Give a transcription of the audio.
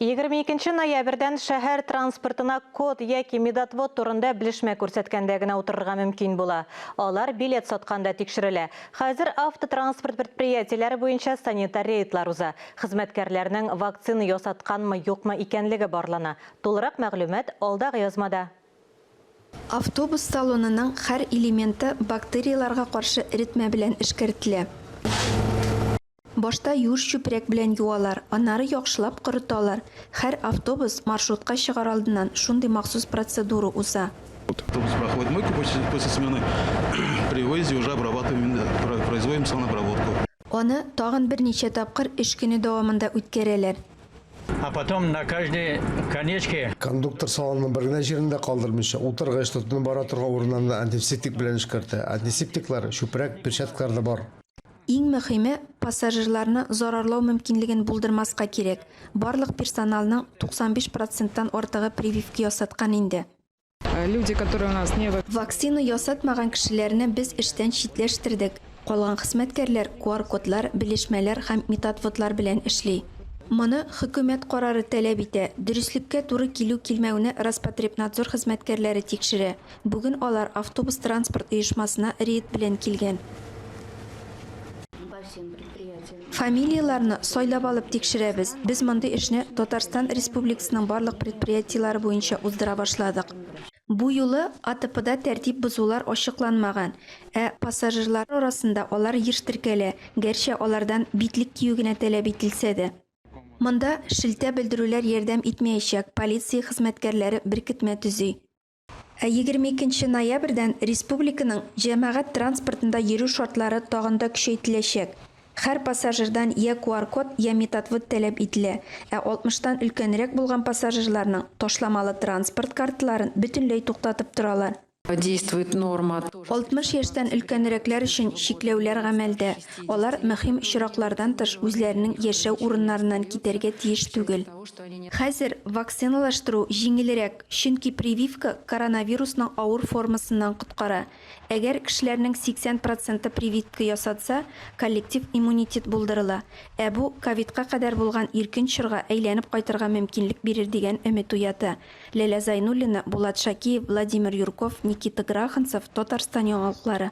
Егерме икенче ноябрьдән шәһәр транспортына код яки медотвод турында белешмә күрсәткәндә генә утырырга мөмкин була. Алар билет сатканда тикшерелә. Хәзер автотранспорт предприятиеләре буенча санитар рейдлар уза. Хезмәткәрләрнең вакцина ясатканмы-юкмы икәнлеге барлана. Тулырак мәгълүмат алдагы язмада. Автобус салонының һәр элементы бактерияләргә каршы эретмә белән эшкәртелә. Башта юеш чүпрәк белән юалар, аннары яхшылап корыталар. Хәр автобус, маршрутка чыгар алдыннан шундый махсус процедура уза. Автобус проходит мойку после после смены, при выезде уже обрабатываем, производим санобработку. Аны тагын берничә тапкыр эш көне дәвамында үткәрәләр. А потом на каждой конечке. Кондуктор салонның бер генә җирен дә калдырмыйча, утыргыч, тотынып бара торган урыннарны антисептик белән эшкәртә. Антисептиклар, чүпрәк, перчаткалар да бар. Иң мөхиме, пассажирларны зарарлау мөмкинлеген булдырмаска кирәк. Барлык персоналның 95 проценттан артыгы прививка ясаткан инде. Люди, которые у нас не. Вакцина ясатмаган кешеләрне без эштән читләштердек. Калган хезмәткәрләр QR-кодлар, белешмәләр һәм методводлар белән эшли. Моны хөкүмәт карары таләп итә. Дөреслеккә туры килү-килмәүне Роспотребнадзор хезмәткәрләре тикшерә. Бүген алар автобус транспорт оешмасына рейд белән килгән. Фамилияләрне сайлап алып тикшерәбез. Без мондый эшне Татарстан Республикасының барлык предприятиеләре буенча уздыра башладык. Бу юлы АТПда тәртип бозулар ачыкланмаган, ә пассажирлар арасында алар еш теркәлә, гәрчә алардан битлек кию генә таләп ителсә дә. Монда шелтә белдерүләр ярдәм итмәячәк, полиция хезмәткәрләре беркетмә төзи. Ә егерме икенче ноябрьдән республиканың җәмәгать транспортында йөрү шартлары тагын да көчәйтеләчәк. Хәр пассажирдан йә QR-код, йә методвод тәләп ителә, ә алтмыштан өлкәнрәк булган пассажирларның ташламалы транспорт картларын бөтенләй туктатып торалар. Действует норма. Алтмыш яшьтән өлкәнрәкләр өчен чикләүләр гамәлдә, алар мөһим очраклардан тыш үзләренең яшәү урыннарыннан китәргә тиеш түгел. Хәзер вакциналаштыру җиңелрәк. Чөнки прививка коронавирусның авыр формасыннан коткара. Әгәр кешеләрнең 80 проценты прививка ясатса, коллектив иммунитет булдырыла. Ә бу, ковидка кадәр булган иркен чорга әйләнеп кайтырга мөмкинлек бирер дигән өмет уята. Ләлә Зайнуллина, Булат Шакиев, Владимир Юрков, Никита Граханцев, Татарстан яңалыклары.